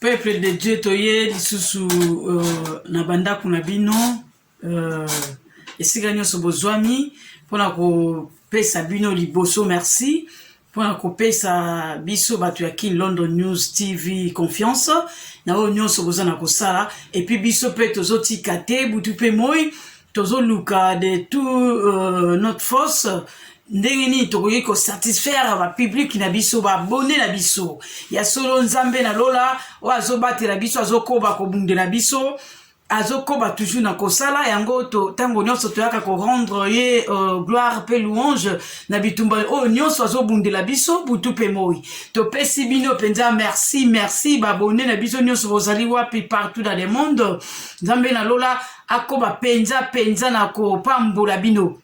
peuple de dieu toye lisusu uh, na bandako na bino uh, esika nyonso bozwami mpona kopesa bino liboso merci mpona kopesa biso bato ya kin london news tv confiance na oyo nyonso boza na kosala epuis biso mpe tozotika te butu mpe moi tozoluka de tout euh, notre force ndenge nini tokoki kosatisfaire bapublike na biso baabone na biso ya solo nzambe na lola oyo azobatela biso azokoba kobundela biso azokoba toujours na kosala yango ntango nyonso toyaka korendre ye uh, gloire mpe louange na bitumba oyo nyonso azobundela biso butu mpe moi topesi bino mpenza merci merci babone na biso nyonso bozali wapi partout dans le monde nzambe na lola akoma mpenza mpenza na kopambola bino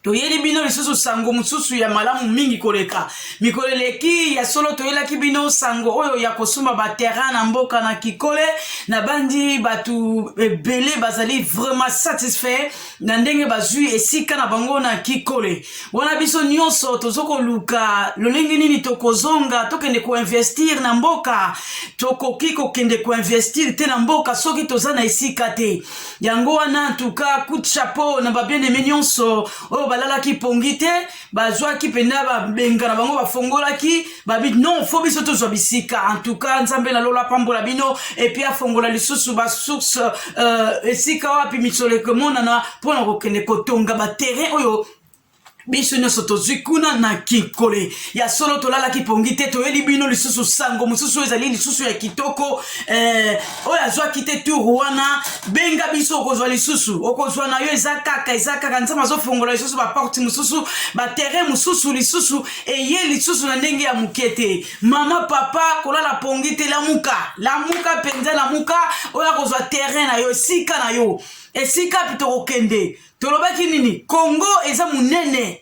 toyeli bino lisusu sango mosusu ya malamu mingi koleka mikolo eleki ya solo toyelaki bino sango oyo ya kosomba baterrain na mboka na kikole nabandi bato ebele bazali vraiment satisfait na ndenge bazwi esika na bango na kikole wana biso nyonso tozokoluka lolenge nini tokozonga tokende koinvestir na mboka tokoki kokende koinvestir te na mboka soki toza na esika te yango wana ntuka coup chapeau na babieneme nyonso oyo balalaki pongi te bazwaki mpenza babenga na bango bafongolaki babi non fo biso tozwa bisika en tout cas nzambe na lola apambola bino epuis afongola lisusu basource euh, esika wapi misolo ekomonana mpo na kokende kotonga baterrain oyo biso nyonso tozwi kuna na kinkole ya solo tolalaki pongi te toyeli bino lisusu sango mosusu ezali lisusu ya kitoko eh, oyo azwaki te tour wana benga biso okozwa lisusu okozwa na yo eza kaka eza kaka nzambe azofongola lisusu baporte mosusu baterrain mosusu lisusu eye lisusu na ndenge ya moke te mama papa kolala pongi te lamuka lamuka mpenza lamuka oyo akozwa terrain na yo esika na yo esika mpe tokokende tolobaki nini kongo eza monene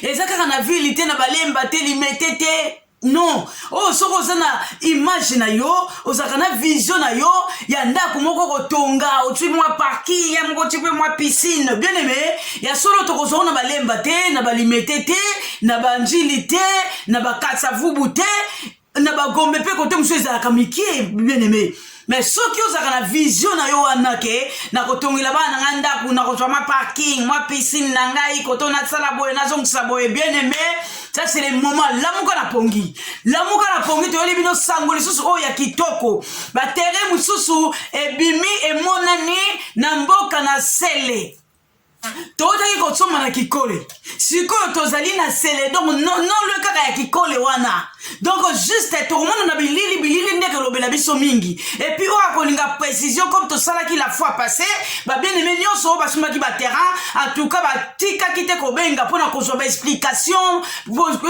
eza kaka na vile te na balemba te limete te non oyo oh, soki oza na image na yo ozalaka na vision na yo ya ndako moko kotonga otwi mwa parking ya moko otwi mpe mwa piscine bien aime ya solo tokozwa na balemba te na balimete te na banjili te na bakatsavubu te na bagombe mpe kote mosusu ezalaka mikie bien aime me soki ozalaka na vision na yo wana ke nakotongela bana na ngai ndako nakozwa ma parking mwa piscine na ngai koto nasala boye nazongisa boye bien aime ça c'est le moment lamuka na pongi lamuka na pongi toyeli bino sango lisusu oyo ya kitoko batere mosusu ebimi emonani na mboka na sele tozali kosomba na kikole sikoyo tozali na sele donc nonlwe kaka ya kikole wana donc juste tokomona na bilili bilili nde kolobela biso mingi epuis oyo akolinga précision comme tosalaki la fois passé babieneme nyonso oyo basumbaki baterrain entouka batikaki te kobenga mpo na kozwa baexplication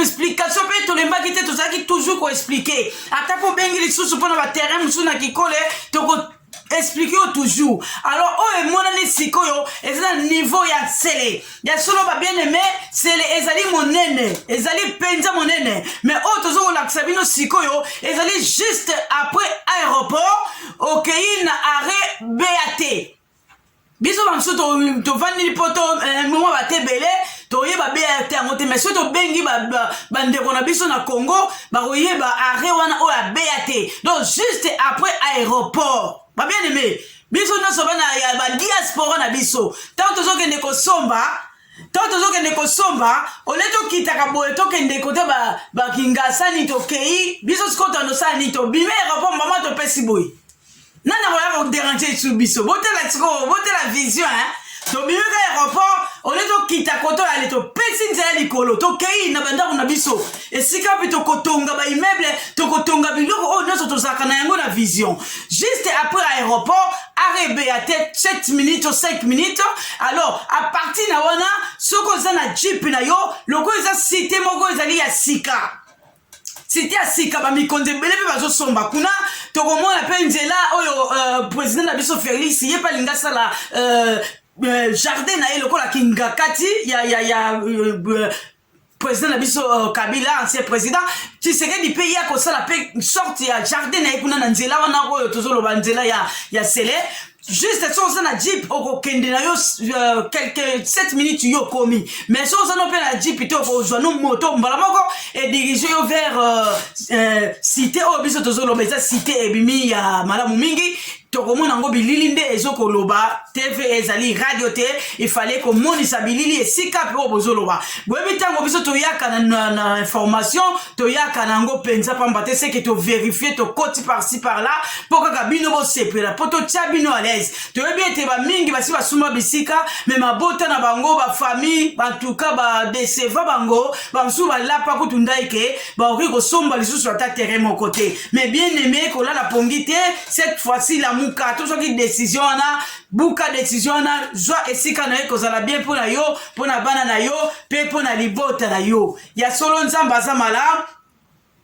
explication mpe tolembaki te tozalaki toujours koexplike ata mpo obengi lisusu mpo na baterrain mosusu na kikole toko explique yo toujours alors oyo oh, emonani sikoyo eza na niveau ya nsele ya solo babien aime nsele ezali monene ezali mpenza monene mais oyo oh, toza kolakisa bino sikoyo ezali juste après aéroport okei na arrêt bat biso bamosusu tovandeli mpo to eh, mwa bate ebele toyeba brt yango te mais soki tobengi bandeko na biso na congo bakoyeba arret wana oyo abeya te donc juste après aéroport babien aime biso nyonso bana ya badiaspora na biso ntango tozokende kosomba ntango tozokende kosomba ole tokitaka boye tokende kote bakingasani tokei biso sikoyo tandosala nini tobimi aéroport mama topesi boye nani akoya koderange esu biso botala sikoyo botala vision hein? tobimi ka aéroport olie tokita koto yale topesi nzela likolo tokei na bandako na biso esika mpe tokotonga baimmeuble tokotonga biloko oyo nyonso tozalaka na yango na vision juste après aéroport arebeya te 7 minutes to 5 minutes alors à partir na wana soki oza na jeep na yo lokola eza site moko ezali ya sika site ya sika bamikonzi ebele mpe bazosomba kuna tokomona mpe nzela oyo uh, president na biso felix ye mpe alingi asala uh, uh, jardin na ye lokola kingakati ya, ya, ya uh, président na biso uh, kabila ancien président tshisekedi mpe ye akosala mpe sorte ya jardin na ye kuna na nzela wana oyo tozoloba nzela ya, ya sele juste so oza na jeep okokende na yo euh, quelque 7 minutes yo okomi mais so oza no mpe na jeep te okozwa no moto mbala moko edirige yo vers euh, euh, cité oyo biso tozoloba eza cité ebimi ya malamu mingi tokomona yango bilili nde ezokoloba tv ezali radio te ifale komonisa bilili esika mpe oyo bozoloba boyebi ntango biso toyaka na, na, na information toyaka na yango mpenza mpamba te seke toverifie tokoti parci par là mpo kaka bino bosepela mpo totya bino alaise toyebi ete bamingi basi basuma bisika me mabota na bango bafamille bantuka badeseva bango bamosusu balapa kutu ndai ke bakoki kosomba lisusu ata tere moko te me bien aime kolala pongi te cette fois-ci lamuka to soki décision wana buka décision wana zwa esika na ye kozala bien mpo na yo mpo na bana na yo mpe mpo na libota na yo ya solo nzambe aza malamu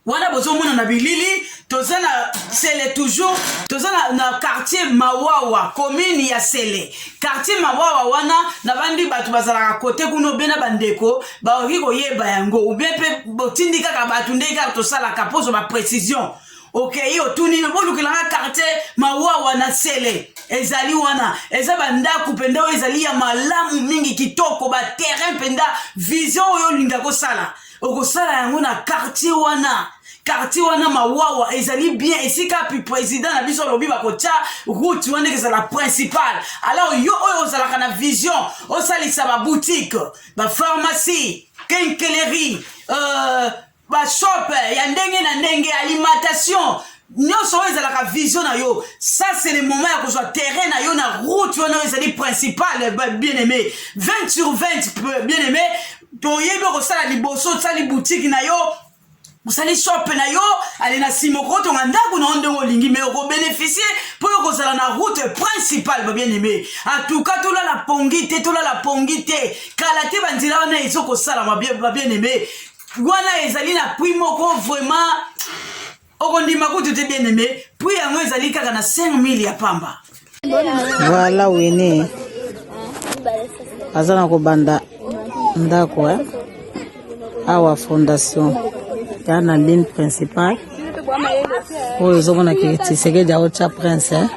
wana bozomona na bilili toza na sele toujours toza na, na quartier mawawa commune ya sele quartier mawawa wana nabandi bato bazalaka kote kuna obe na bandeko bakoki koyeba yango obe mpe botindi kaka bato ndenge kaka tosalaka mpozo baprécision okei otuni bolukela nga quartier mawawa na sele ezali wana eza bandako mpenza oyo ezali ya malamu mingi kitoko baterrain mpenza vision oyo olinga kosala okosala yango na quartier wana quartier wana mawawa ezali bien esika pi président na biso alobi bakotya route wana ekezala principale alors yo oyo ozalaka na vision osalisa baboutique bapharmacie kenkeleri euh, ba shop ya ndenge na ndenge alimentation nyonso oyo ezalaka vision na yo ça c'est le moment ya kozwa terrain na yo na route wana oyo ezali principale bien aimé 20 sur 20 bien aimé toyebi okosala liboso osali butiki na yo osali shope na yo ale na nsima okotonga ndako na yo ndenge olingi mai okobeneficie mpo yo kozala na route principale babien aime atuka tolala pongi te tolala pongi te kala te banzela wana ezokosala babien aime wana ezali na prix moko vraiment okondima kutu te bien aime prix yango ezali kaka na 5000 ya pamba voilà wene aza na kobanda ndako eh? awa fondation ya na ligne principale oyo ozomona ke tisekedi aotya prince eh?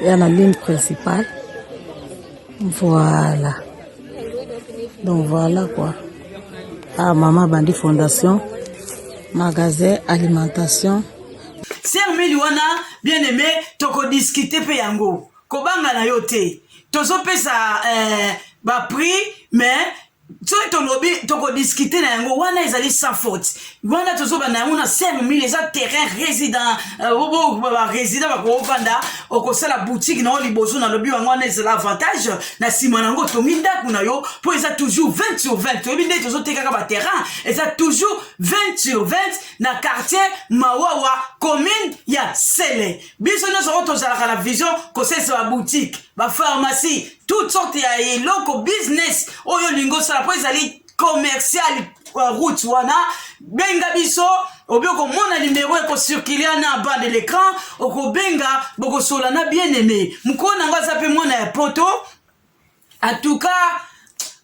ya na ligne principale Voilà. Donc voilà quoi. Ah, maman bandi fondation, magasin, alimentation. Sœur Meli wana bien aimé toko discuter pe yango. Kobanga na yo te. Tozo pesa euh, ba prix mais soki tolobi tokodiscute na yango wana ezali sans faute wana tozoba na yango na seme mile eza terrain résident euh, barésident bakoofanda okosala boutique na yo liboso nalobi yango wana ezala avantage na nsima na yango otongi ndako na yo mpo eza toujours 20 sur 20 toyebi nde tozotekaka baterrain eza toujours 20 sur 20 na quartier mawawa commune ya sele biso nyonso oyo tozalaka na vision kosalisa baboutique bapharmacie toute sorte ya eloko business oyo olingi osala mpo ezali commercial euh, route wana benga biso obi okomona nimero ekocircule na bas de l'écran okobenga bokosola na bien aimé mokolo na yango aza mpe mwana ya poto en tout cas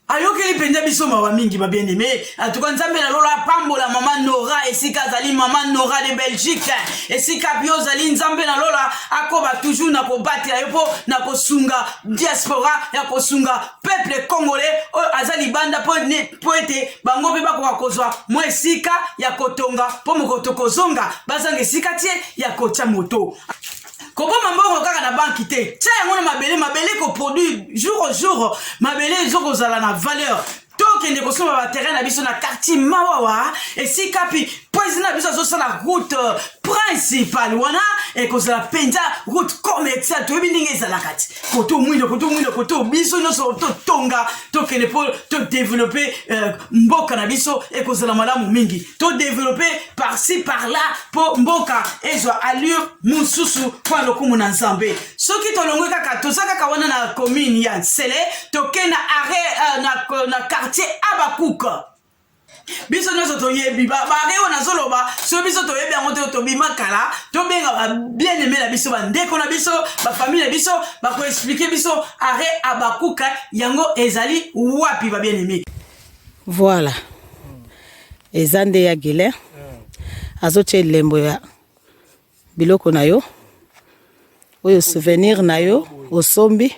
ayokeli mpenza biso mawa mingi babiene me atuka nzambe na lola apambola mama nora esika azali mama nora de belgique esika mpe ozali nzambe na lola akoba toujours na kobatela yo mpo na kosunga diaspora ya kosunga peuple congolais oyo aza libanda mpo ete bango mpe bakoka kozwa mwa esika ya kotonga mpo moko tokozonga bazanga esika te ya kotya moto koboma mbongo kaka na banki te tia yango na mabele mabele koproduire jour au jour mabele ezokozala na valeur tokende kosomba baterrain na biso na quartier mawawa esika pi president na biso azosala route euh, principale wana ekozala mpenza route commerciale toyebi ndenge ezalaka ti koto mwindo koto mwindo koto biso nyonso totonga tokende mpo todevelope euh, mboka na biso ekozala malamu mingi to develope par-ci par-là mpo mboka ezwa allure mosusu mpo ya lokumu na nzambe soki tolongwe kaka toza kaka wana na commune ya nsele toke na arret uh, na, euh, na quartier abakouk biso nyonso toyebi bare oyo nazoloba soki biso toyebi yango te tobima kala tobenga babiene eme na biso bandeko na biso bafamile na biso bakoexplike biso arret abakuka yango ezali wapi babiene eme voilà eza nde ya Gilen azotia elembo ya biloko na yo oyo souvenir na yo osombi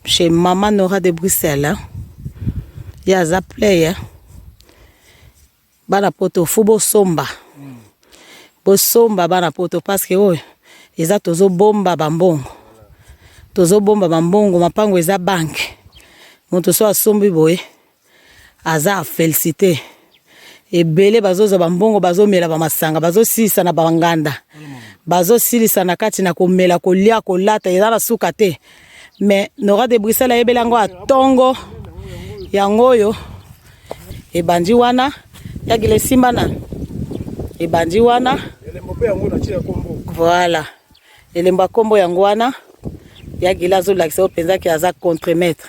chez mama Nora de Bruxelles ye aza player bana poto fo bosomba bosomba bana poto parce que oyo eza tozobomba bambongo tozobomba bambongo mapango eza banke moto so asombi boye Aza à feliciter. Ebele bazozwa ba mbongo bazomela ba masanga bazosilisa na ba nganda bazosilisa na kati na komela kolia kolata eza na suka te mais nora de bruxelles ayebeli yango atongo yango oyo ebandi wana yagila esimba na ebandi wana voilà elembo ya nkombo yango wana yagila azolakisa oyo mpenzaki aza contre maître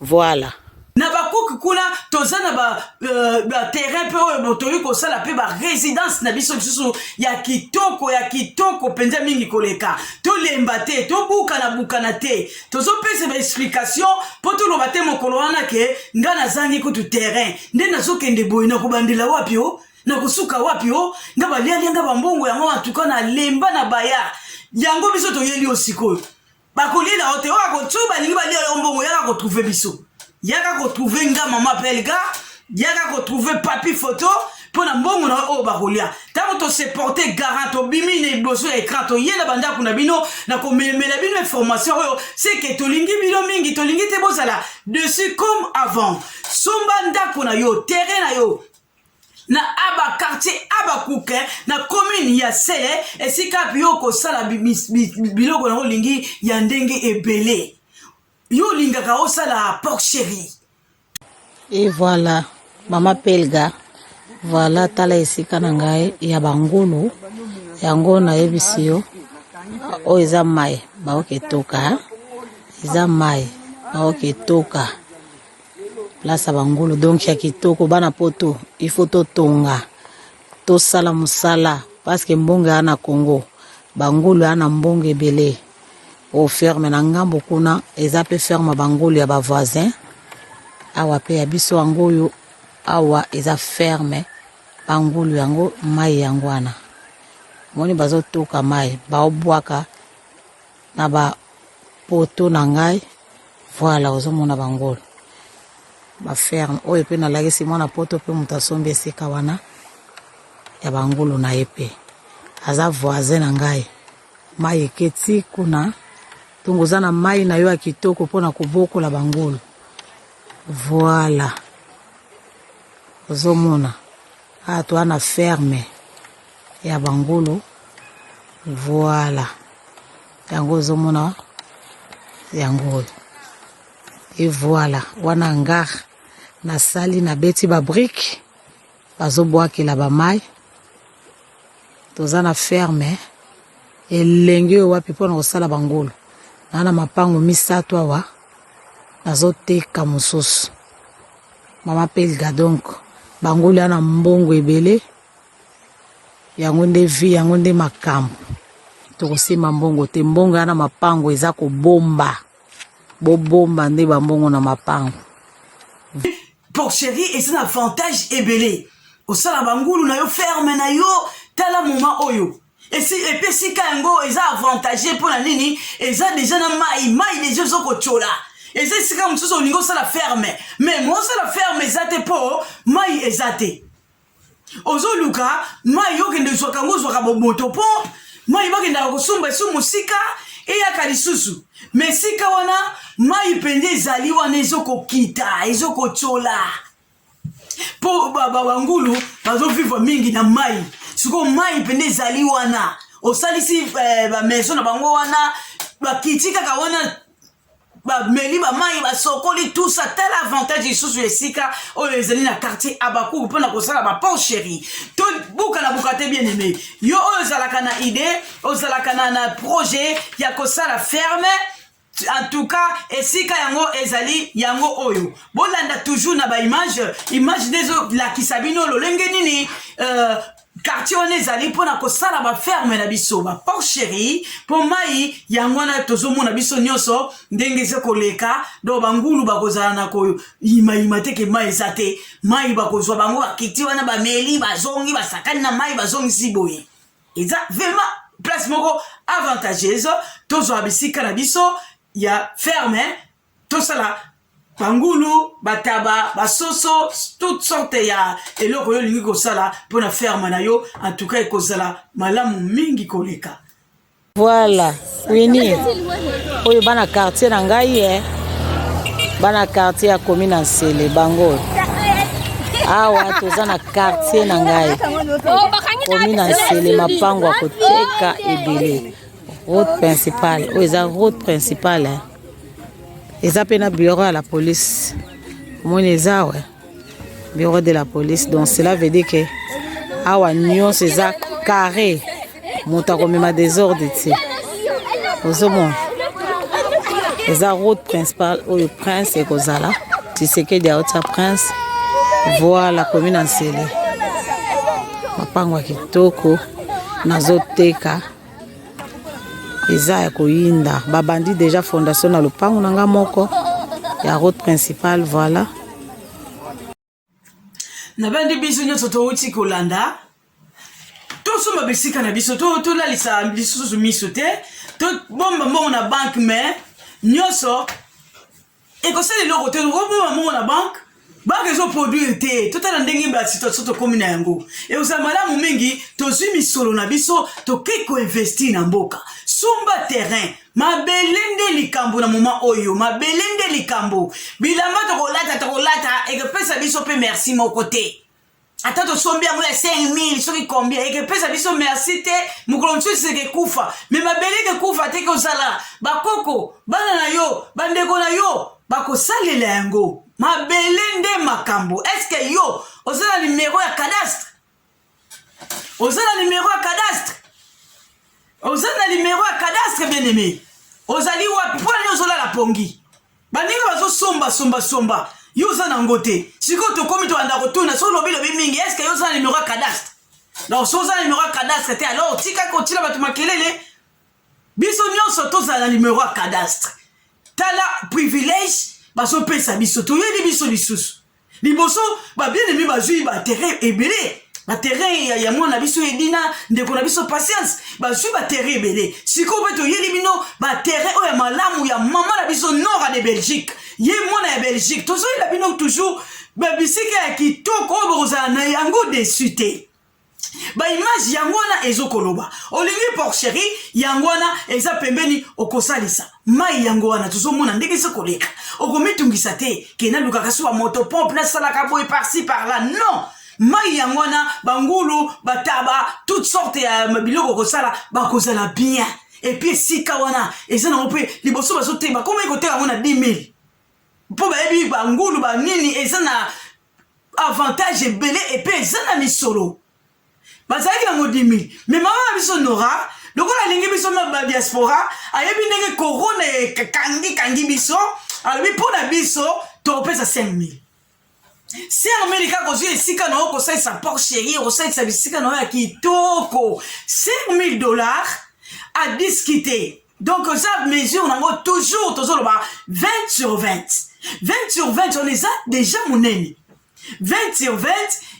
Voilà. Na ba cook kuna toza na ba, euh, ba terrain pe oyo botoyi kosala pe ba residence na biso lisusu ya kitoko ya kitoko penza mingi koleka tolemba te tobukana bukana te tozopesa ba explication po toloba te mokolo wana ke ngai nazangi kutu terrain nde nazokende boye na kobandela wapi o oh? na kosuka wapi o oh? nga balialia nga bambongo yango antuka na lemba na baya yango biso toyeli yo sikoyo bakolela yo te oyo akotsoi balingi balia yo mbongo yaka kotrouve biso yaka kotrouve nga mama pelga yaka kotrouve papi foto mpo na mbongo na oyo bakolia ntango toseporte garant tobimi na liboso ya ekran toye na bandako na bino na komelemela bino information oyo seke tolingi bino mingi tolingi te bozala dessus comme avant somba ndako na yo terrain na yo na aba quartier abakuke na commune ya sele esika yo okosala biloko yango olingi ya ndenge ebele yo olingaka osala porc cherie e voilà mama pelga voilà tala esika na ngai ya bangulu yango nayebisi yo oyo eza mai baoke toka eza mai baoke toka place ya bangulu donc ya kitoko bana poto il faut totonga tosala mosala parceke mbongo ea na congo bangulu ea na mbongo ebele o ferme na ngambo kuna eza mpe ferme bangulu ya bavoisin awa mpe ya biso yango oyo awa eza ferme bangulu yango mai yango wana moni bazotoka mai baobwaka na ba poteau na ngai voila ozo mona ba ngolu ba ferme oyo pe na lakisi mwana poto pe moto asombi esika wana ya ba ngulu na ye pe aza voisin na ngai mai eketi kuna ntongo oza na mai na yo ya kitoko mpo na kobokola bangulu voila ozomona Awa toa na ferme ya bangulu voila yango ozomona yango oyo e voila wana ngar nasali nabeti babrike bazobwakela bamai toza na ferme elengi oyo wapi mpona kosala bangulu naa na mapango misato awa nazoteka mosusu Maman Pelga donc bango lia na mbongo ebele yango nde vie yango nde makambo tokosimba mbongo te mbongo ya na mapango eza kobomba bobomba nde bambongo na mapango porcherie eza na avantage ebele osala bangulu na yo ferme na yo tala moma oyo esi epe esika yango eza avantage mpo na nini eza deja na mai mai deja ezokotyola eza esika mosusu olingi osala ferme me mosala ferme eza te mpo mai eza te ozoluka mai okende zwaka yango ozwaka bomoto mpo mai bakendaka kosomba esu mosika eyaka lisusu me esika wana mai mpenza ezali wana ezokokita ezokotyola mpo bangulu bazovivre mingi na mai sikoyo mai mpende ezali wana osalisi eh, bamaison na bango wana bakiti kaka wana bameli bamai basokoli tusa tala avantage lisusu ya esika oyo ezali na quartier abakuku mpo na kosala bapor chéri to buka na buka te bien aimé yo oyo ozalaka na idée ozalaka na, na projet ya kosala ferme En tout cas, esika yango ezali yango oyo. Bolanda toujours na ba image, image dezo lakisa bino lolenge nini euh, quartier wana ezali mpo na kosala baferme na biso baporcherie mpo mai yango wana tozomona biso nyonso ndenge eza koleka donc bangulu bakozala na koyimayima te ke mai eza te mai bakozwa bango bakiti wana bameli bazongi basakani na mai bazongisi boye eza vraiment place moko avantageuse tozwa bisika na biso ya ferme tosala bangulu bataba basoso toute sorte ya eloko yo olingi kosala mpo na ferme na yo en tout cas ekozala malamu mingi koleka voilà Winnie, oyo bana quartier na ngai eh. bana quartier ya komi na nsele bango oyo awa toza na quartier na ngai komi na nsele mapango ya koteka ebele route principale oyo eza route principale eh. eza mpe na bureau ya la police omoni eza awa bureau de la police donc cela veut dire que awa nyonso eza carré moto akomema desordre te ozomona eza route principale oyo prince ekozala tisekedi aotia prince voi la commune ansele mapango ya kitoko nazoteka eza ya koyinda babandi deja fondation na lopango na nga moko ya route principale voilà nabandi biso nyonso touti kolanda tosomba bisika na biso tolalisa to lisusu miso te tobomba mbongo na banke mai nyonso ekosala eloko te okoboma mongo na banke banke ezoproduire te totala ndenge basituation tokomi na yango ekozala malamu mingi tozwi misolo na biso tokei koinvestir na mboka sumba terrain mabele nde likambo na moma oyo mabele nde likambo bilamba tokolata tokolata ekopesa biso mpe merci moko te ata tosombi yango ya 5000 soki combien ekepesa biso merci te mokolo mosusu ekekufa me mabele ekekufa te kozala bakoko bana na yo bandeko na yo bakosalela yango mabele nde makambo eske yo oza na nimero ya cadastre oza na nimero ya cadastre oza na nimero ya cadastre bien aime ozali wapi mpo nani ozolala pongi baninga bazosomba somba somba yo oza na yango te sikoyo tokomi tolanda kotuna so lobi lobi mingi eske yo oza na numero ya cadastre donc so oza na numero ya cadastre te alors tika kotila bato makelele biso nyonso tozala na numero ya cadastre tala privilège bazopesa biso toyebi biso lisusu liboso ba bien aimé bazui ba terrain ebele ba terrain ya, ya mwana biso edina ndeko na biso patience bazui ba terrain ebele sikoyo mpe toyeli bino ba terrain oyo ya malamu ya mama na biso nora de belgique ye mwana ya belgique tozoyela bino toujours babisika ya kitoko oyo bokozala na yango desu te ba image yango wana ezokoloba olingi porcherie yango wana eza pembeni okosalisa mai yango wana tozomona ndenge eza koleka okomitungisa te ke nalukaka so bamoto pompe nasalaka boye parci par là non mai yango wana bangulu bataba toute sorte ya biloko kosala bakozala bien epuis esika wana eza nango mpe liboso bazoteba komai koteka yango na 10 000 mpo bayebi bangulu banini eza na avantage ebele epe eza na misolo bazalaki na modimi me mama na biso nora lokola alingi biso na diaspora ayebi ndenge korona ekangi kangi biso alobi mpo na biso tokopesa 5000 sermeli kaka ozwi esika na yo kosalisa por chéri okosalisa bisika na yo ya kitoko 5000 dollars adiskite donc eza mesure nango toujours tozoloba 20 sur 20 20 sur 20 on eza déjà monene 20 sur 20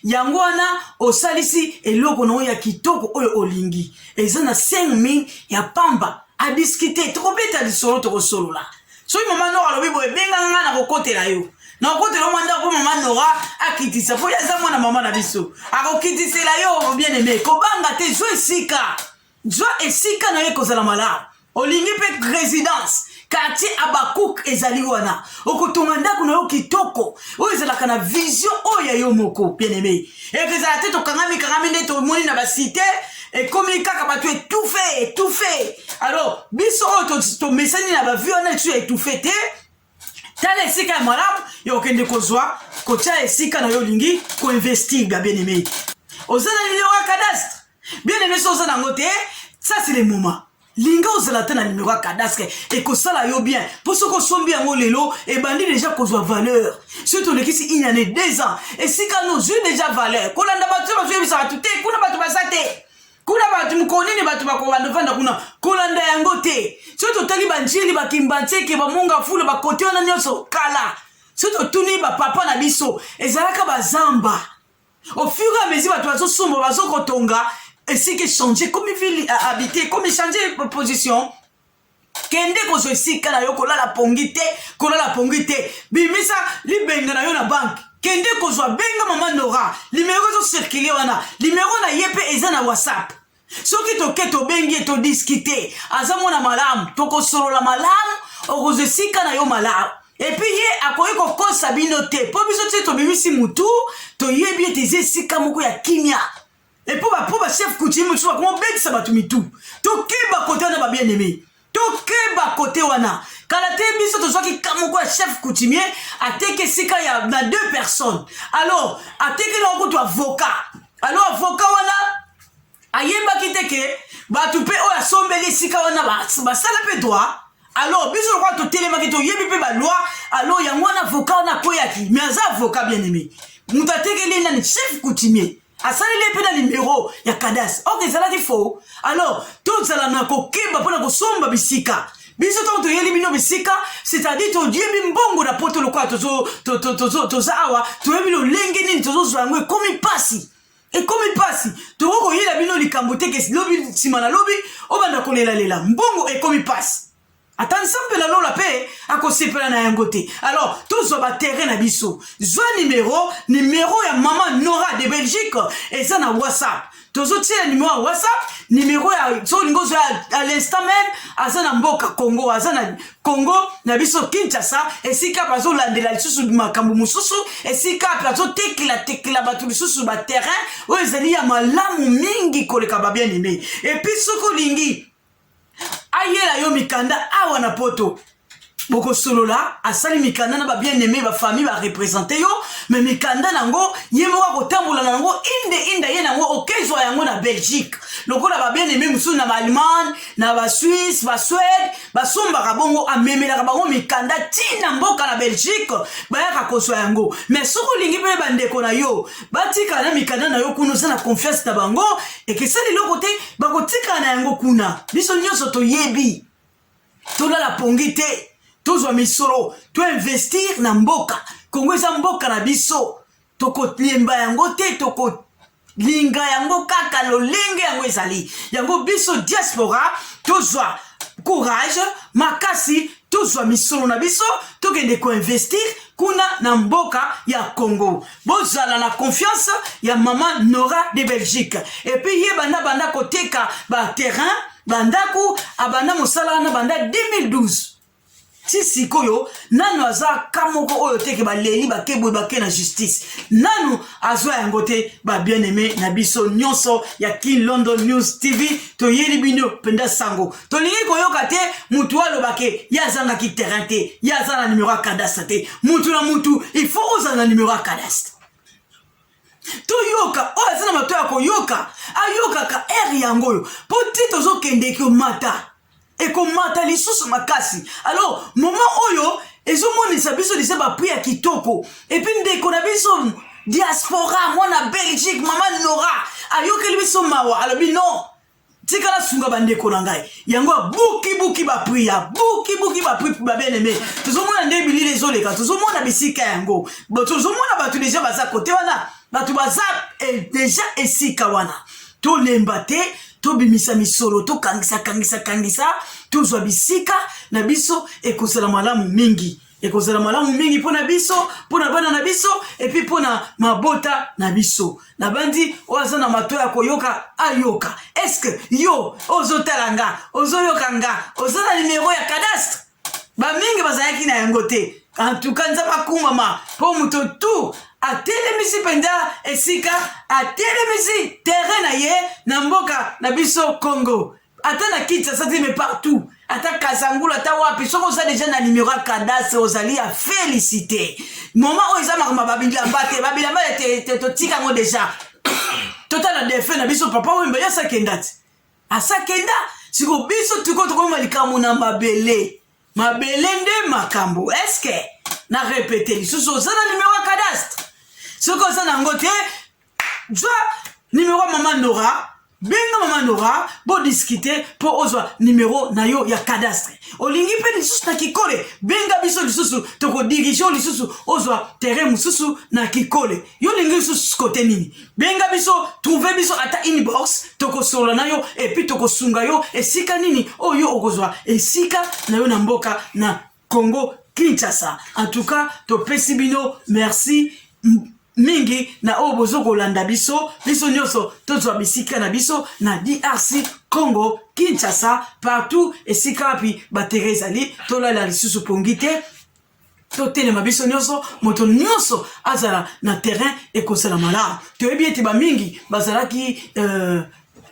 yango wana osalisi eloko nango ya kitoko oyo olingi eza na 5 min ya pamba adiskite tokobeta lisolo tokosolola soki mama nora alobi boye benganga ngai nakokotela yo nakokotela yo mwa ndako mpo mama nora akitisa mpo ye aza mwana mama na biso akokitisela yo bien aime kobanga te zwa esika Zwa esika na yo ekozala malamu. Olingi mpe residence quartier Abakouk ezali wana, okotonga ndako na yo kitoko oyo ezalaka na vision oyo ya yo moko bien aimé. Eke ezala te tokangami kangami nde tomoni na basite ekomi kaka bato etufe etufe. Alors biso oyo tomesani na bavie wana lisusu ya etufe te tala esika ya malamu ya kokende kozwa kotya esika na yo olingi koinvestir bya bien aime oza na nimero ya cadastre bien aime so oza nango te sasi le moment linga ozala te na nimero ya cadastre ekosala yo bien mpo soki osombi yango lelo ebandi deja kozwa valeur soki tolekisi une année deux ans esika nozwi deja valeur kolanda bato oyo bazoyebisa bato te kuna bato baza te kuna bato mokolo nini bato bakobanda ofanda kuna kolanda yango te soki totali banjeli bakimbantseke bamonga fula bakote wana nyonso kala soki totuni bapapa na biso ezalaka bazamba au fur et à mesure bato bazosomba bazokotonga esika echange komi ville habité komi change position kende kozwa esika na yo kolala pongi te kolala pongi te bimisa libenga na yo na banke kende kozwa benga mama nora limero ezocirkule wana limero na ye mpe eza na whatsapp soki toke tobengi ye todiskite aza mwana malamu tokosolola malamu okozwa esika na yo malamu epuis ye akoki kokosa bino te mpo biso te tobimisi motu toyebi ete eza esika moko ya kimia epo bapo bachef coutume mosusu bakoma obetisa bato mitu tokeba kote wana ba bien aime tokeba kote wana kala te biso tozwaki ka moko ya chef coutumier ateki esika ya na deux personnes alors ateki na okutu avoka alors avoka wana ayebaki te ke bato mpe oyo asombeli esika wana basala mpe droit alors biso lokola totelemaki toyebi mpe baloi alors yango wana avoka wana akweyaki mais aza avoka bien aime moto atekeli nani chef coutumier asaleli ye mpe na nimero ya kadas ok ezalaki faux alors tozala na kokeba mpo na kosomba bisika biso ntango toyeli bino bisika c'est-à-dire toyebi mbongo na poto lokola toza awa toyebi lolenge nini tozozwa yango ekomi mpasi ekomi mpasi tokoki koyela bino likambo te ke lobi nsima na lobi obanda kolelalela mbongo ekomi mpasi ata nzambe na lola mpe akosepela na yango te alors tozwa baterrain na biso zwa nimero nimero ya mama nora de belgique eza na whatsapp tozotiela nimero ya whatsapp nimero ya so olingi ozwa à l'instant même aza na mboka congo aza na congo na biso kinshasa esika bazolandela lisusu makambo mosusu esika mpe azotekela tekela bato lisusu baterrain oyo ezali ya malamu mingi koleka babien aime epuis soki olingi ayela yo mikanda awa na poto bokosolola asali mikanda na babieneme bafamille barepresente yo me mikanda na yango ye moko akotambola na yango inde inde aye na yango okezwa yango na belgique lokola babieneme mosusu na baallemagne na basuisse basuede basombaka bongo amemelaka bango mikanda ntina mboka na belgique bayaka kozwa yango me soki olingi mpe bandeko na yo batikala na mikanda na yo kuna oza na confiance na bango ekesali eloko te bakotikala na yango kuna biso nyonso toyebi tolala pongi te tozwa misolo toinvestir na mboka kongo eza mboka na biso tokolemba yango te toko linga yango kaka lolenge yango ezali yango biso diaspora tozwa courage makasi tozwa misolo na biso tokende koinvestir kuna na mboka ya congo bozala na confiance ya mama nora de belgique epuis ye banda banda koteka baterrain bandako abanda mosala wana banda 2012 ti sikoyo nanu aza ka moko oyo teke baleli bake boye bake na justice nanu azwa yango te babien aime na biso nyonso ya kin london news tv toyeli bino mpenza sango tolingi koyoka te mutu oyo alobake ye azangaki terrain te ye aza na numero ya cadastre te mutu na mutu il faut ozala na numero ya cadastre toyoka oyo aza na mato ya koyoka ayokaka ere yango oyo mpo ti tozokende ekomata ekomata lisusu makasi alors moma oyo ezomonisa biso lise bapri ya kitoko epi ndeko na biso diaspora mwana belgique mama nora ayokeli biso mawa alobi non tika nasunga bandeko na ngai yango abukibuki bapri ya bukibuki bapri babeneme tozomona nde bilili ezoleka tozomona bisika yango tozomona bato deja baza kote wana bato baza eh, deja esika wana tolemba te tobimisa misolo tokangisa kangisa kangisa tozwa bisika na biso ekozala malamu mingi ekozala malamu mingi mpo na biso mpo na bana na biso epuis mpo na mabota na biso nabandi oyo aza na mato ya koyoka ayoka eske yo ozotala nga ozoyoka nga oza na nimero ya cadastre bamingi bazalaki na yango te antuka nzambe akumama mpo moto tu atelemisi mpenza esika atelemisi tere na ye na mboka na biso congo ata na kinshasa te mais partout ata kazangulu ata wapi soki oza deja na numero ya cadastre ozali ya félicité moma oyo eza makambo babilamba te babilamba te totika yango deja totala defe na biso papa wemba ye asakenda te asakenda siko biso tiko tokoma likambo na mabele mabele nde makambo eske na repete lisusu oza na numero ya cadastre soki oza na yango te zwa numero ya mama nora benga mama nora bodiscute mpo ozwa numero na yo ya cadastre olingi mpe lisusu na kikole benga biso lisusu tokodirige yo lisusu ozwa terrain mosusu na kikole yo olingi lisusu kote nini benga biso trouve biso ata inbox tokosolola na yo epuis tokosunga yo esika nini oyo okozwa esika na yo na mboka na Congo Kinshasa en tout cas topesi bino merci mingi na oyo bozo kolanda biso biso nyonso tozwa bisika na biso na DRC Congo Kinshasa partout esika wapi batere ezali tolala lisusu pongi te totelema biso nyonso moto nyonso azala na terrain ekozala malamu toyebi ete bamingi bazalaki euh,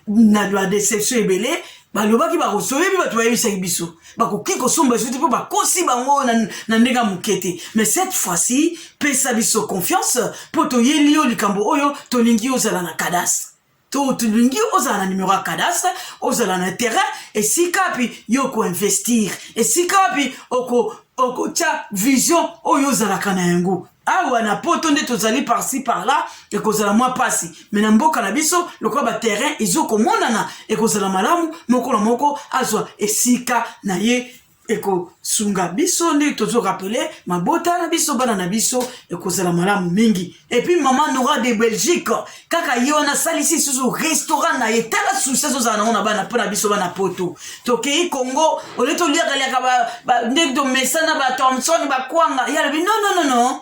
na ba deception ebele balobaki bakosoyebi bato bayebisaki biso bakoki kosomba esuti mpo bakosi bango na, na ndenge ya moke te mais cette fois-ci pesa biso confiance mpo toyeli yo likambo oyo tolingi ozala na kadastre to tolingi ozala na numero ya cadastre ozala na terrain esika wapi yo okoinvestir esika wapi oko okotya vision oyo ozalaka na yango awa na poto nde tozali parci parla ekozala mwa mpasi me na mboka na biso lokola baterrain ezokomonana ekozala malamu moko na moko azwa esika na ye ekosunga biso nde tozorapele mabota na biso bana na biso ekozala malamu mingi epuis mama nora de belgique kaka ye wana asalisi lisusu restaurant na ye tala susi azozala nango na bana mpo na biso bana poto tokei congo olie toliakaliaka ndenge tomesana ba thomson bakwanga ye alobi non non non non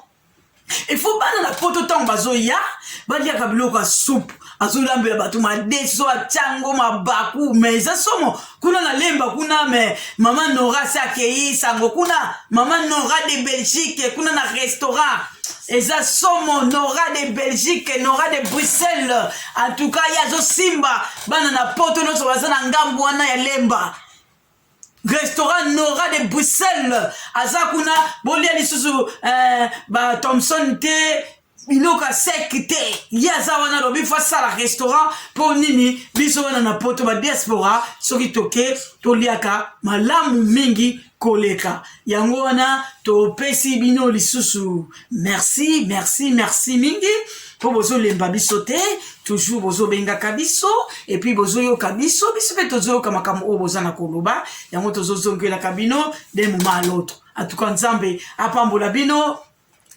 il faut bana na poto ntango bazoya baliaka biloko ya soupe azolambela bato madeso acango mabaku ma eza somo kuna na lemba kuna me mama nora se akei sango kuna mama nora de belgique kuna na restaurant eza somo nora de belgique nora de bruxelles en tout cas ye azosimba bana na poto nyonso baza na ngambo wana ya lemba restaurant nora de bruxelles aza kuna bolia lisusu eh, ba thomson te biloko ya seki te ye aza wana lobi fo asala restaurant mpo nini biso wana na poto badiaspora soki toke toliaka malamu mingi koleka yango wana topesi bino lisusu merci merci merci mingi mpo bozolemba biso te toujours bozobengaka biso epuis bozoyoka biso biso mpe tozoyoka makambo oyo boza na koloba yango tozozongelaka bino de moment à l'autre en tout cas nzambe apambola bino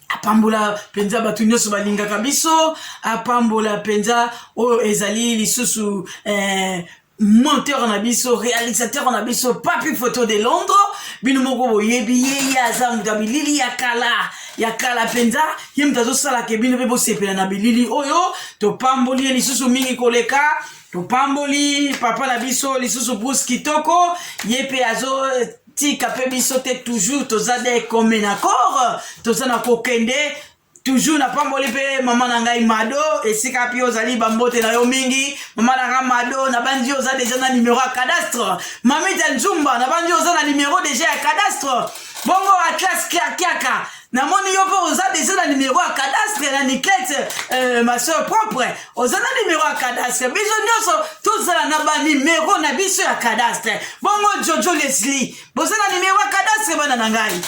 apambola mpenza bato nyonso balingaka biso apambola mpenza oyo ezali lisusu eh, monteur na biso réalisateur na biso papi photo de londres bino moko boyebi ye ye aza moto ya bilili ya kala ya kala mpenza ye moto azosalaka bino mpe bosepela na bilili oyo topamboli ye lisusu mingi koleka topamboli papa na biso lisusu bruce kitoko ye mpe azo tika pe biso te toujours toza de comme na corps toza na kokende toujours napamboli mpe mama na ngai mado esika mpe ozali bambote na yo mingi mama na ngai mado nabandi oza deja na numero ya cadastre mamita nzumba nabandi oza na numero deja ya cadastre bongo atlas kiakiaka namoni yo mpe oza deja na numero ya cadastre na niklete euh, ma soeur propre oza na numero ya cadastre biso nyonso tozala na banumero na biso ya cadastre bongo jojo leslie boza na numero ya cadastre bana na ngai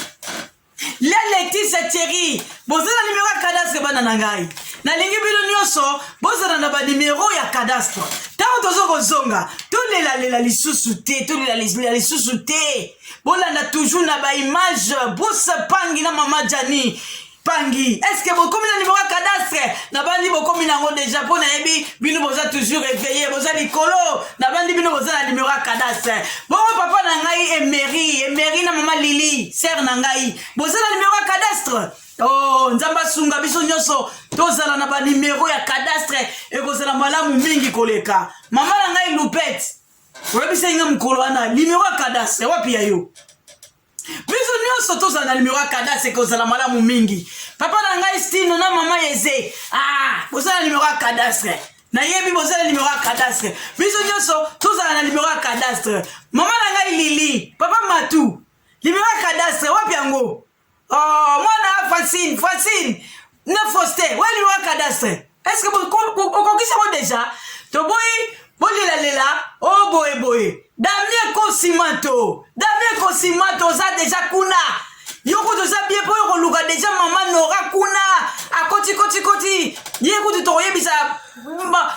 la letise thierry boza na numero ya cadastre bana na ngai nalingi bino nyonso bozala na banumero ya cadastre ntango toza kozonga tolelalela lisusu te tolelalela lisusu te bolanda toujours na ba image bruce pangi na mama jani pangi estce bokomi na nimero ya cadastre nabandi bokomi nango deja mpo nayebi bino boza toujours eveille boza likolo nabandi bino boza na nimero ya cadastre bongo papa na ngai emeri emeri na mama lili sere na ngai boza na nimero ya cadastre oh nzambe asunga biso nyonso tozala na banimero ya cadastre ekozala malamu mingi koleka mama na ngai lupete oyebisaki nga mokolo wana nimero ya kadastre wapi ya yo biso nyonso tozala na nimero ya kadastre ekozala malamu mingi papa na ngai stino na mama eze ah, bozala nimero ya kadastre nayebi bozala nimero ya kadastre biso nyonso tozala na nimero ya kadastre mama na ngai lili papa matu nimero ya kadastre wapi yango Oh, mwana Francine, Francine, na Foste, wali wa cadastre. Est-ce que okokisa ko déjà? Toboyi bolela lela o oh, boye boye. Damien Kosimato, Damien Kosimato oza déjà kuna. Yo kutu oza bien po okoluka déjà maman Nora kuna. Akoti koti koti. Ye kutu tokoyebisa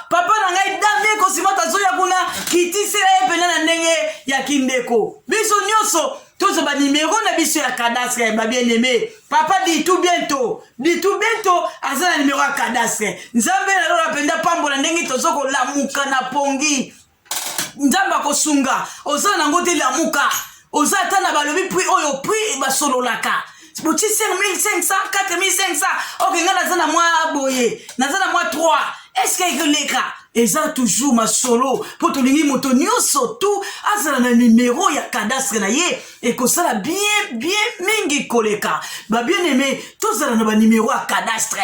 papa na ngai Damien Kosimato azoya kuna kitisela ye pena na ndenge ya kindeko. Biso nyonso tozwa banimero na biso ya cadastre ya babieneme papa ditu biento ditu biento aza na nimero ya cadastre nzambe na lola mpenza pambola ndenge tozo kolamuka na pongi nzambe akosunga oza nango te lamuka oza ata na balobi prix oyo prix basololaka botie 5500 4500 oke ngai naza na mwa boye naza na mwa 3 eske ekoleka eza toujours masolo mpo tolingi moto nyonso tu azala na nimero ya cadastre na ye ekosala bien bien mingi koleka babien aime tozala na banimero ya cadastre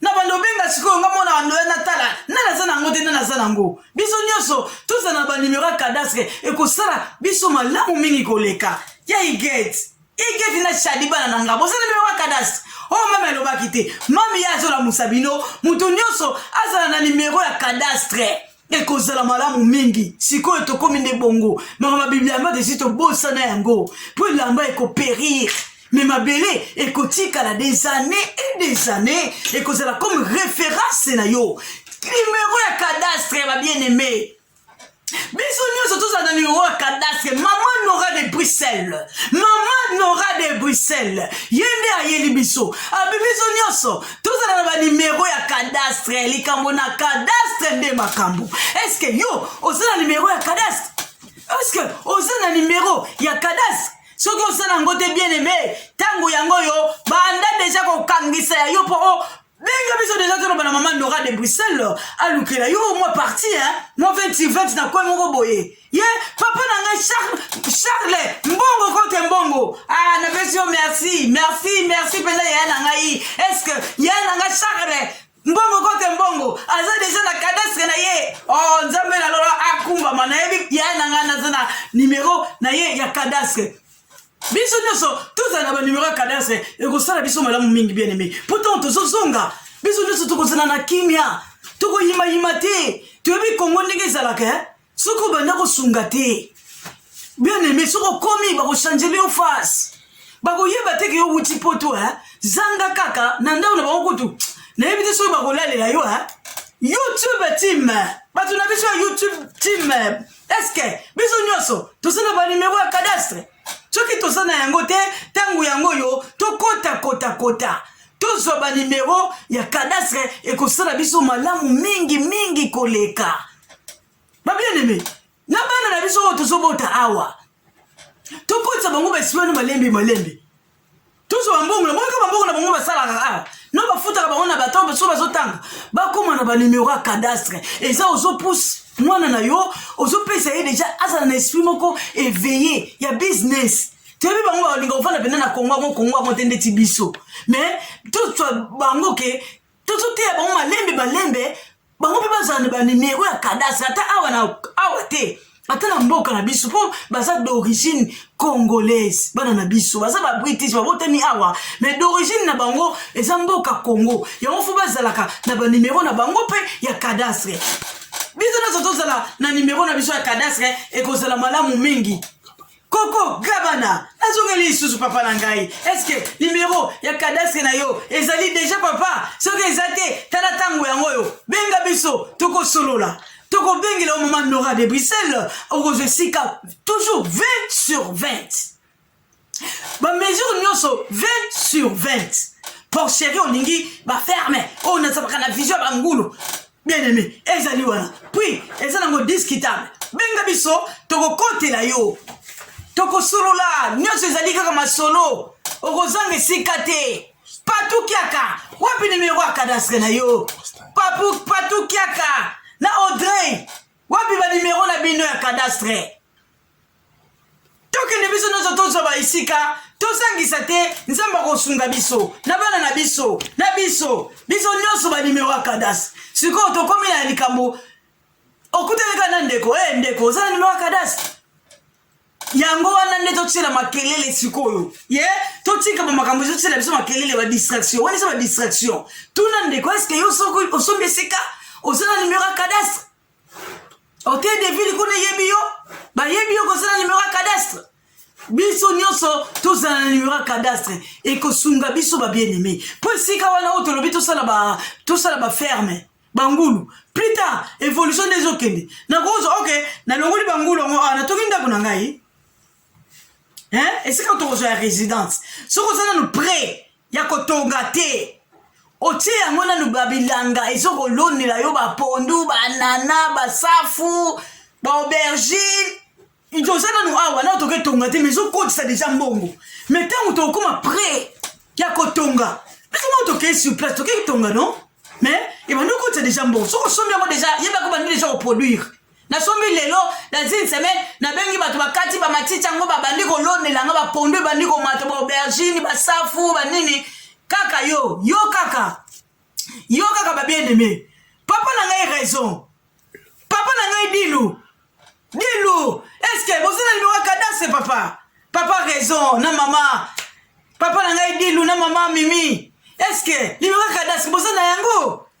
na bando obenga sikoyo nga mwana bando ya natala nani aza na yango te nani aza na yango biso nyonso tozala na banimero ya cadastre ekosala biso malamu mingi koleka ya igete igete na shadi bana na nga boza na nimero ya cadastre oyo oh, mami alobaki te mami ye azolamusa bino moto nyonso azala na nimero ya cadastre ekozala malamu mingi sikoyo tokomi nde bongo maka mabiblia ya mbata esi tobosana yango mpo elamba ekoperire me mabele ekotikala des années et des années ekozala comme référence na yo numero ya cadastre ya babien-aimé biso nyonso tozala na numero ya cadastre mama nora de bruxelles mama nora de bruxelles ye nde ayeli biso abi biso nyonso tozala na banimero ya cadastre likambo na cadastre nde makambo eske yo oza na nimero ya cadastre eske oza na nimero ya cadastre soki oza na yango te bien aime ntango yango yo banda deja kokangisa ya yo mpo o oh, benga biso deja toloba na mama nora de bruxelles alukela yo mwa parti mwa 20 20 na koi moko boye ye papa na ngai charles mbongo kote mbongo ah, napesi yo merci merci merci mpenza yaya na ngai estce que yaya na ngai charles mbongo kote mbongo aza deja na cadastre na ye o oh, nzambe na lola akumbama nayebi yaya na ngai naza na nimero na ye ya cadastre biso nyonso tozala na banimero ya cadastre ekosala biso malamu mingi bien aime mpo ntango tozozonga biso nyonso tokozala na kimia tokoyimayima te toyebi kongo ndenge ezalaka eh? soki obanda kosunga te bien aime soki okomi bakochanjele yo face bakoyeba te ke yo wuti poto eh? zanga kaka na ndako na bango kutu nayebi te soki bakolalela yo eh? youtube team bato na biso ya youtube team eske biso nyonso toza na banimero ya cadastre soki toza na yango te ntango yango oyo tokota kota kota tozwa banimero ya cadastre ekosala biso malamu mingi mingi koleka babieneme na bana na biso oyo tozobota awa tokotisa bango basimani malembe malembe tozwa bambongo na monika bambongo na bango basalaka awa no bafutaka bango na bato baso bazotanga bakóma na banimero ya cadastre eza ozopuse mwana na yo ozopesa ye deja azala na esprit moko eveille ya business toyebi bango balinga kofanda mpenza na kongo yango kongo yango te ndeti biso mais tozwa bango ke tozoteya bango malembe malembe bango mpe bazala na banimero ya kadastre ata awa na awa te ata na mboka na biso mpo baza d'origine congolaise bana na biso baza ba british babotami awa mais d'origine na bango eza mboka congo yango fo bazalaka na banimero na bango mpe ya cadastre biso nyonso tozala na nimero na biso ya cadastre ekozala malamu mingi koko gabana nazongeli lisusu papa na ngai eske nimero ya kadastre na yo ezali deja papa soki eza te tala ntango yango oyo benga biso tokosolola tokobengela omama nora de bruxelles okozwa esika toujours 20 sur 20 bamesure nyonso 20 sur 20 porcherie olingi baferme oyo nazalaka na vision ya bangulu bien aimé ezali wana puis eza nango discutable benga biso tokokotela yo tokosolola nyonso ezali kaka masolo okozanga esika te patukiaka wapi nimero ya kadastre na yo patukiaka na audrey wapi banimero na bino ya kadastre tokende biso nyonso tozwa baesika tozangisa te nzambe akosunga biso na bana na biso na biso biso nyonso banimero ya kadas sikoyo tokomi na likambo okutanaka na ndeko e ndeko oza na nimero ya kadas yango wana nde totyela makelele sikoyo ye totika bamakambo ezotyela biso makelele badistraction wana eza badistraction tuna ndeko eske yo osomi esika oza na nimero ya cadastre hotel de ville kuna eyebi yo bayebi yo kozala numero ya cadastre biso nyonso tozala na numero ya cadastre ekosunga biso babieneme mpo esika wana oyo tolobi tosala baferme bangulu plus tard évolution nde ezokende nakozwa oke nalongoli bangulu yango awa natoki ndako na ngai hein esika tokozwa ya résidence soki oza nanu près ya kotonga te otie yango nanu babilanga ezokolonela yo bapondu banana basafu baaubergine toza nanu awa nao toke tonga te mais ezokotisa deja mbongo mais ntango tokokoma près ya kotonga biso moko tokei sur place tokei tonga non mais ebandi okotisa deja mbongo soki osombi yango deja yebaka obandi deja koproduire nasombi lelo dans une semaine nabengi bato bakati bamatiti yango babandi kolonela nga bapondu ebandi komata baaubergine basafu banini kaka yo yo kaka yo kaka babieneme papa na ngai raison papa na ngai dilu dilu eske bozela limero kadase papa papa raison na mama papa na ngai dilu na mama mimi eske limero kadase boza na yango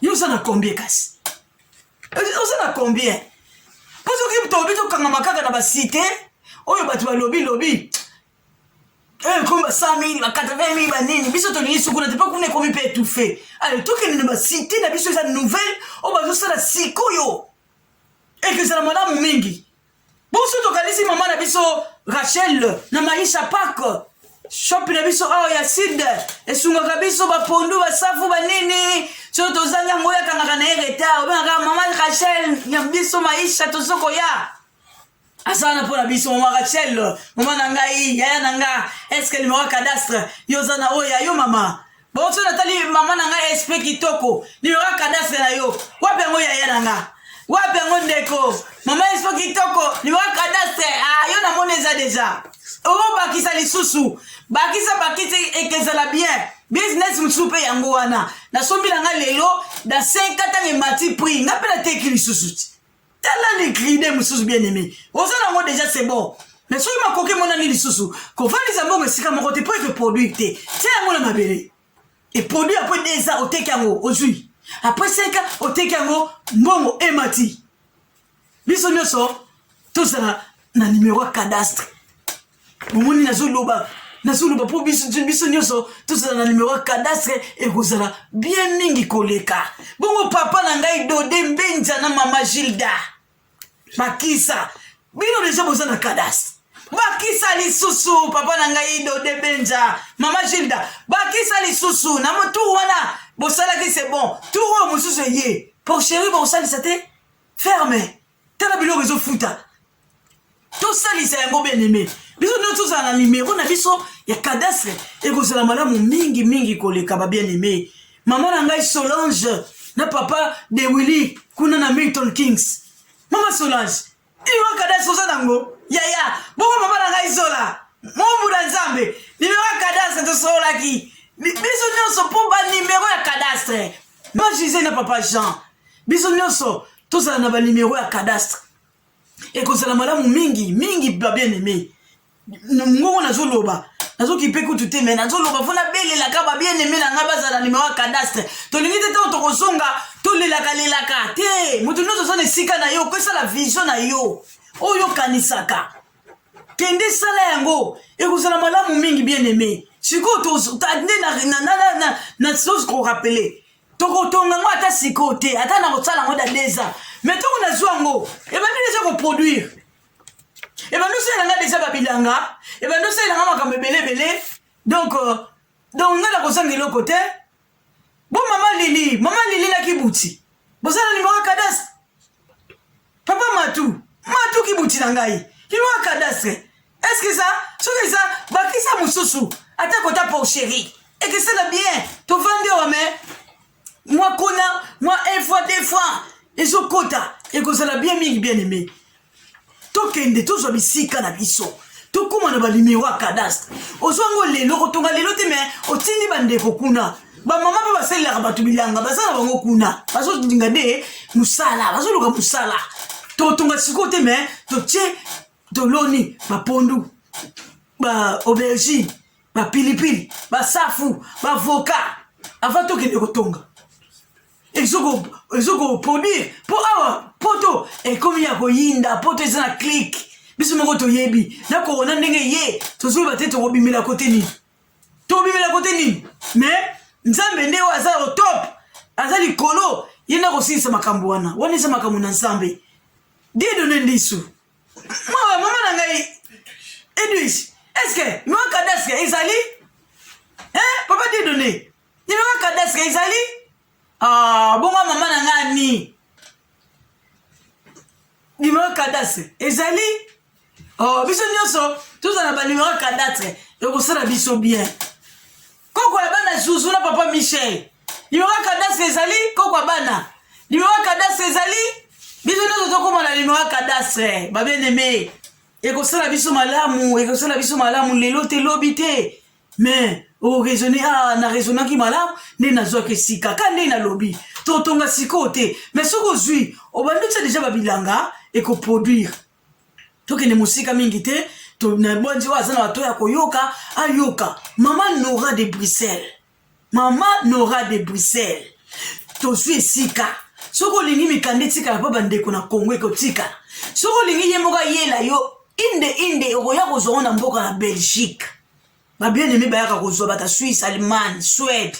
yo oza na combien kasi oza na combien mpo soki tobi tokangama kaka na basite oyo bato balobi lobi ekomi ba 100 mili ba 80 mili banini biso tolingi sukuna te mpo kuna ekomi mpe etoufe ale tokende na basite na biso eza nouvelle oyo bazosala sikoyo ekezala malamu mingi Bonso tokanisi mama na biso Rachel na Maisha Park shopi na biso awa ya sud esungaka biso bapondu basafu banini so tozangi yango yakangaka na ye retard obengaka mama rachel ya biso maisha tozo koya aza na mpo na biso mama rachel mama na ngai yaya na nga eske limero cadastre yo oza na oyo ya yo mama bonso natali mama na ngai esprit kitoko liloka kadastre na yo wapi yango yaya na nga wapi yango ndeko mama esprit kitoko liloka kadastre ah, yo namoni eza deja obakisa lisusu bakisa bakisi ekezala bien business mosusu mpe yango wana nasombi na ngai lelo na 5 ntango emati prix ngai mpe nateki lisusu ti tala ni gride mosusu bien aimé oza nango déjà c'est bon mais soki makoki emonani lisusu kovandisa mbongo esika moko te mpo eke produire te tia yango na mabele eproduit apres deux ans oteki yango ozwi apres cinq ans oteki yango mbongo emati biso nyonso tozala na numero ya cadastre bomoni nazoloba nazoloba mpo biso biso nyonso tozala na numero ya cadastre ekozala bien mingi koleka bongo papa na ngai dode mbenja na mama gilda bakisa bino deja boza na cadastre bakisa lisusu papa na ngai dode benja mama gilda bakisa lisusu na motur wana bosalaki se bon tur oyo mosusu eye pour chéri bokosalisa te ferme tala biloko ezofuta tosalisa yango beneme biso nde tozala na nimero na biso ya cadastre ekozala malamu mingi mingi koleka babieneme mama na ngai solange na papa de willi kuna na milton kings mama solange nimero ya cadastre oza nango yaya bongo mama na ngai zola mombu na nzambe nimero ya cadastre tosololaki biso nyonso mpo banimero ya cadastre ba juse na papa jean biso nyonso tozala na banimero ya cadastre ekozala malamu mingi mingi babien aime ngongo nazoloba nazokipe kutu te me nazoloba mpo nabelelaka babien aime na ngai bazala nimero ya cadastre tolingi te ntango tokozonga tolelaka lelaka te moto nyonso oza na esika na yo okosala vision na yo oyo okanisaka kende sala yango ekozala malamu mingi bien aime sikoyo nde nasosi korapele tokotonga yango ata sikoyo te ata na kosala yango da deux ans mais ntongo nazwa yango ebandi deja koproduire ebandi osalela nga deja babilanga ebandi osalela nga makambo ebele ebele donc euh, donc nga nakozanga eloko te bo mama lili mama lili na kibuti bozala nimero ya kadastre Papa Matou, Matou ki buti na ngai. Loi cadastre. Est-ce que ça, soki ça, bakisa mususu, ata kota pour chérie. Et que ça va bien, to vande wa mais, moi kona, moi une fois, deux fois, ils ont kota, et que ça va bien mingi bien aimé. Tokende, tozwa bisika na biso. tokóma na banimero ya cadastre ozwa yango lelo kotonga lelo te me otindi bandeko kuna bamama mpe basalelaka bato bilanga baza na bango kuna bazolinga nde mosala bazoluka mosala totonga sikoyo te me totie toloni bapondu ba aubergine bapilipili basafu bavoka avant tokende kotonga ezokoproduire mpo awa poto ekomi ya koyinda poto eza na clike biso moko toyebi na korona ndenge ye tozoyeba te tokobimela kote nini tobimela kote nini me nzambe nde oyo aza o top aza likolo ye nde akosilisa makambo wana wana eza makambo na nzambe didone ndisu mawa mama na ngai edwige eske noa kadaske ezali papa didone ninoa kadaske ezali Ah, bongo mama na nga ani numero cadastre ezali oh, biso nyonso tozala na banumero cadastre ekosala biso bien koko ya bana zuzu na papa michel numero cadastre ezali koko ya bana numero cadastre ezali biso nyonso tokoma na numero cadastre babieneme ekosala biso malamu ekosala biso malamu lelo te lobi te mais oraisonne ah, na raisonnaki malamu nde nazwaki esika ka nde nalobi totonga sikoyo te mais soki ozwi obandi otya deja babilanga ekoproduire tokende mosika mingi te nabwanzi oyo aza na bato ya koyoka ayoka mama nora de bruxelles mama nora de bruxelles tozwi esika soki olingi mikanda etikala mpo bandeko na kongo ekotikala soki olingi ye moko ayela yo inde inde okoya kozwango na mboka na belgique ba bien aime bayaka kozwa bata suisse allemagne suède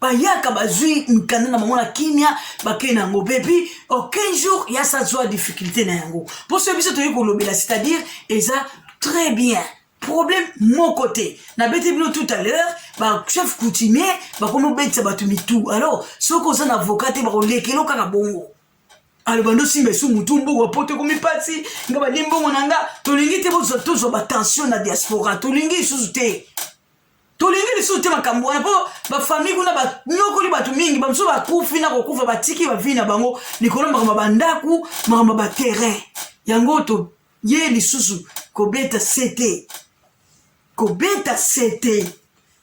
bayaka bazwi mikanda na bango na kimia bakei na yango bebi aucun jour ya sa zwa difficulté na yango mpo soki biso toyei kolobela c'est-à-dire eza très bien problème moko te nabeti bino tout à l'heure bachef coutumier bakomi obetisa bato mitu alors soki oza na avoka te bakolekelo kaka bongo aloba ndo simba esu mutu mboka poto ekomi mpasi nga badi mbongo na nga tolingi te bozwa tozwa batension na diaspora tolingi lisusu te tolingi lisusu te makambo wana mpo bafamille kuna banyokoli bato mingi bamosusu bakufi na kokufa batiki bavi na bango likolo ya makambo ya bandako makambo ya baterrain yango toye lisusu kobeta sete kobeta sete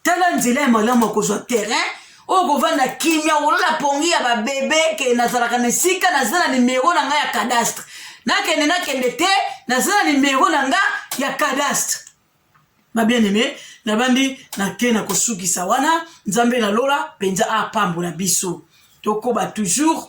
tala nzela ya malamu ya kozwa terrain oyo kovanda kimia kolona pongi ya babebe ke nazalaka na esika naza na nimero na ngai ya cadastre nakende nakende te naza na nimero na nga ya cadastre ma bien aime nabandi nake na kosukisa wana nzambe na lola mpenza apambola biso tokoba toujours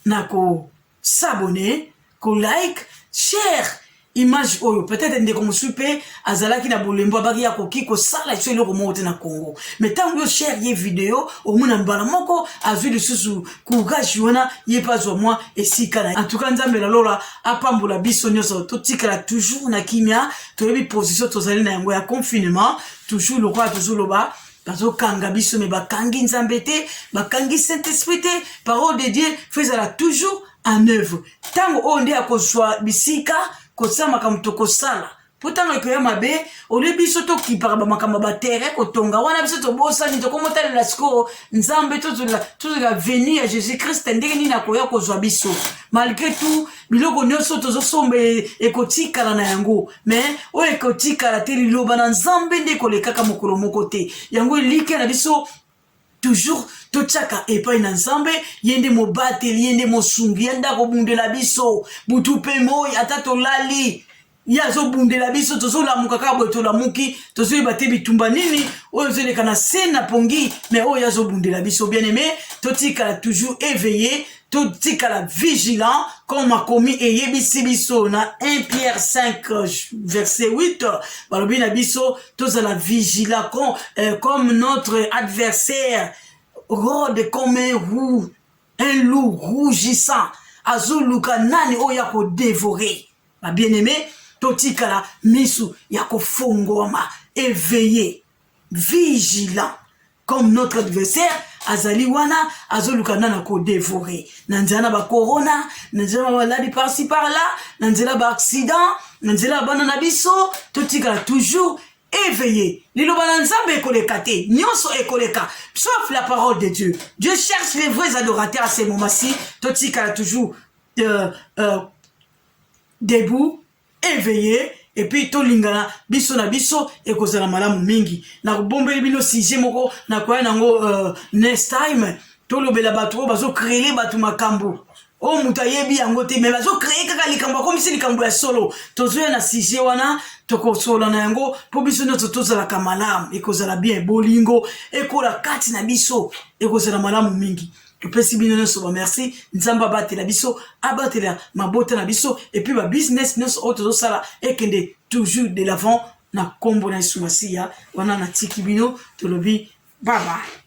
na ko s'abonner, ko like, share image oyo peut-être ndeko mosusu mpe azalaki na bolembo abaki ya koki kosala biso eloko moko te na congo mais ntango yo share ye video omona mbala moko azwi lisusu courage wana ye mpe azwa mwa esika na en tout cas nzambe na lola apambola biso nyonso totikala toujours na kimia toyebi position tozali na yango ya confinement toujours lokola tozoloba bazokanga biso me bakangi nzambe te bakangi saint esprit te parole de dieu fo ezala toujours en œuvre ntango oyo nde akozwa bisika kosala makambo tokosala mpo ntango ekoya mabe olie biso tokipaka bamakambo ya batere kotonga wana biso tobosani tokomotalela sikoyo nzambe tozela veni ya jésus krist ndenge nini akoya kozwa biso malgré tout biloko nyonso tozosomba e, ekotikala na yango me oyo ekotikala te liloba na nzambe nde ekolekaka mokolo moko te yango elikya na biso toujours totyaka epai na nzambe ye nde mobateli ye nde mosungi ye nde akobundela biso butu mpe moi ata tolali ye azobundela biso tozolamuka kaka boye tolamuki tozoyeba te bitumba nini oyo ezoleka na se na pongi me oyo ye azobundela biso bien aime totikala toujours eveille totikala vigilant comme makomi eyebisi biso na 1 pierre 5 euh, verset 8 euh, balobi na biso tozala vigilant com, euh, comme notre adversaire rode comme un roux un loup rougissant azoluka nani oyo ya kodevore babien aime totikala misu ya kofongwama eveille vigilant comme notre adversaire azali wana azoluka nana kodevore na nzela na bacorona na nzela na maladi parci par là na nzela baaccident na nzela ya bana na biso totikala toujours éveillé liloba na nzambe ekoleka te nyonso ekoleka sauf la parole de dieu dieu cherche les vrais adorateurs à ce moment ci totikala toujours euh, euh, debout eveiller et puis tolingana biso na biso ekozala malamu mingi na kobombeli bino sujet moko na koya nango uh, next time tolobela bato oyo bazocrele bato makambo oyo oh, moto ayebi yango te me bazocreye kaka likambo akomisi likambo ya solo tozoya na sujet wana tokosolola na yango mpo biso nyonso tozalaka malamu ekozala bien bolingo ekola kati na biso ekozala malamu mingi topesi bino nyonso bamerci nzambe abatela biso abatela mabota na biso epuis babusiness nyonso oyo tozosala ekende toujours de l'avant na nkombo na yesu masiya wana natiki bino tolobi babaye